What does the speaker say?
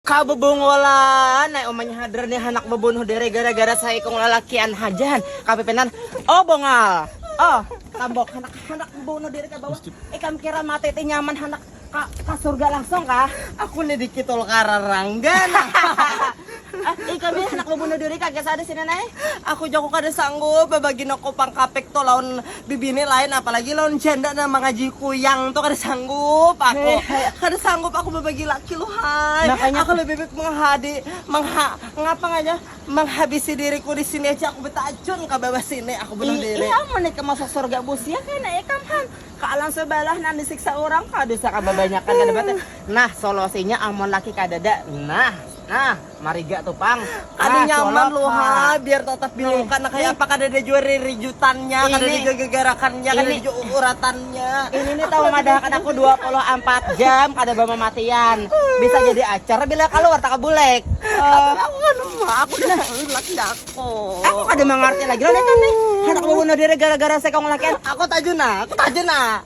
Ka bebongolan ai umanya hadar nih handak bebunuh diri gara-gara saikung lalakian haja han kapipinan oh bongal oh tambok handak handak bebunuh diri ke bawah ikam kira mati ti nyaman handak ka, ka surga langsung kah aku nih dikitul kararanggan eh, ikam nih handak bebunuh diri kagak sadis ini nai aku jago kada sanggup babagi noko pangkapik to lawan bibini lain apalagi lawan janda nang mangaji kuyang tu kada sanggup aku kada sanggup aku babagi laki luhai aku lebih baik menghadi mengha ngapa nganya menghabisi diriku di sini aja aku betajun ka bawah sini aku bunuh diri iya amun ikam masuk surga busia kena ikam han ka alam sebalah nang disiksa urang ka dosa ka babanyakan kada batul nah solusinya amun laki kadada nah nah. Mariga tuh pang. Kada ah, nyaman lu ha, biar tetap bilukan nah kayak apa kada ada jua rijutannya, kada ada jua gegarakannya, kada ada jua uratannya. Ini nih tahu madahkan aku 24 jam kada bamamatian. Bisa jadi acar bila keluar tak bulek. Uh, aku kan aku udah laki aku. Aku kada mengerti lagi lah nih. Hendak bunuh diri gara-gara sekong laki. Aku tajuna, aku tajuna.